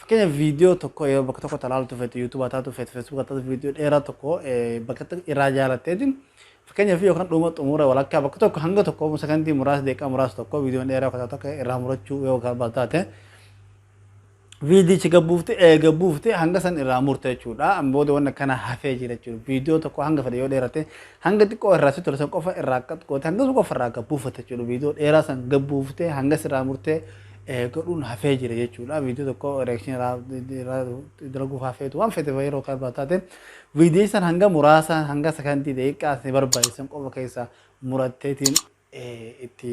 Fakkeenyaaf viidiyoo tokko yeroo bakka tokkotti ilaaltu feetu yuutuuba taatu feetu feesbuuka taatu viidiyoo dheeraa tokko bakka irraa jaalatteetiin fakkeenyaaf yookaan dhuma xumura walakkaa bakka tokko hanga tokko sakandii muraasa deeqaa muraasa tokko viidiyoon dheeraa kutaa tokko irraa murachuu yoo barbaadu taate viidiyichi gabbuufte eega buufte hanga san irraa murte jechuudha booda wanna kana hafee jira jechuudha viidiyoo tokko hanga fedhe yoo dheerate hanga xiqqoo irraa si tolsan qofa irraa qaxqoote hanga qofa irraa gabbuufate jechuudha viidiyoo dheeraa san gabbuufte hanga sirraa murte godhuun hafee jira jechuudha. Viidiyoo tokko reaction irraa dalaguuf hafeetu waan fedhe yeroo kan irraa taate viidiyoo san hanga muraasa hanga sekondii daqiiqaa isin barbaachisan qofa keessaa muratteetiin itti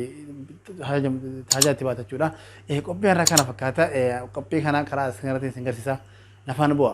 taajaa itti baata jechuudha. Qophii har'a kana fakkaata. Qophii kana karaa isin irratti isin garsiisa. Nafaan bu'a.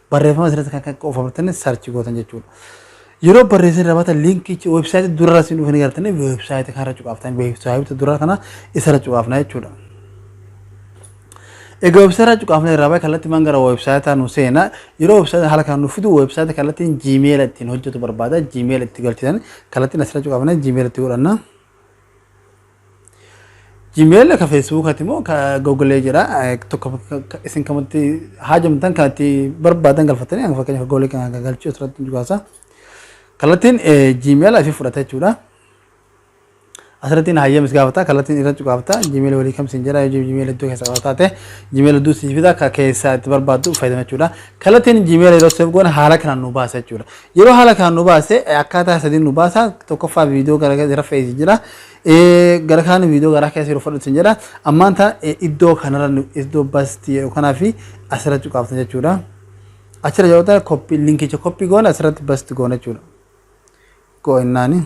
Barreeffama asirratti kan qofamartanii sarchi gootan jechuudha. Yeroo barreessin rabata liinkichi weebsaayitii durarra siin dhufanii gartanii weebsaayitii kanarra cuqaaftan weebsaayitii duraa kana isarra cuqaafna jechuudha. Egaa weebsaayitii cuqaafna irraa baay'ee kallattii maan gara weebsaayitaa nu seena yeroo weebsaayitii haala kana nu fidu weebsaayitii kallattiin jiimeela ittiin hojjetu barbaada jiimeela itti galchitan kallattiin asirra cuqaafna jiimeela itti godhanna. Gmail ka Facebook ati moo ka Google jira tokko isin kamatti haajamtan kan itti barbaadan galfatanii hanga fakkeenyaaf Google kan hanga galchuu asirratti dhugaasa. Kallattiin Gmail isin fudhata jechuudha. Asirratti hayyama is gaafata kallattiin irra cuqaafata Gmail walii kam isin jedha yoo Gmail iddoo keessa qabataa ta'e Gmail iddoo isin fida ka keessa itti barbaaddu fayyadama jechuudha. Kallattiin Gmail yeroo seef goone haala kanaan nu baasa jechuudha. Yeroo haala kanaan nu baase akkaataa sadiin nu baasa tokkoffaa viidiyoo gara gara rafee isin jira gara kaan viidiyoo garaa keessa yeroo fudhatu isin jedha ammaan ta iddoo kanarra iddoo basti jedhu kanaa fi asirra cuqaaftan jechuudha achirra yoo ta'e koppi linkicha koppi goona asirratti basti goona jechuudha go'innaani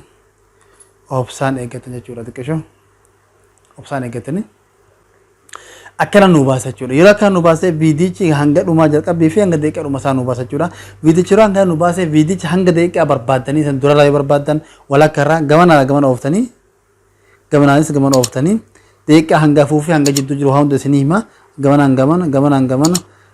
obsaan eeggatan jechuudha xiqqisho obsaan eeggatanii akkana nu baasa jechuudha. Yeroo akkana nu baasee viidiyichi hanga dhumaa jalqabbii fi hanga daqiiqaa dhuma isaa nu baasa jechuudha. Viidiyichi yeroo akkana nu baasee viidiyichi hanga daqiiqaa barbaaddanii san durarraa yoo barbaaddan walakka irraa gamanarraa gamana ooftanii gamanaanis gamana ooftanii daqiiqaa hanga afuu fi hanga jidduu jiru waa hunda isinii hima gamanaan gamana gamanaan gamana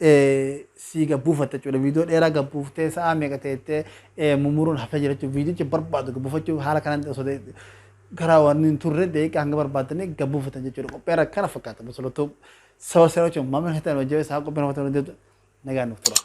sii gad buufatta jechuudha. Viidiyoo dheeraa gad buuftee sa'aa meeqa teettee mumuruun haftee jira jechuudha. Viidiyicha barbaadu gad buufachuu haala kanaan osoo karaa waan hin turre deeqa hanga barbaadanii gad buufatan jechuudha. Qophii irra kana fakkaata. Musulatu saba seera jechuun maamila keessatti hojii isaa qophii irra fakkaatu nagaan nuuf tura.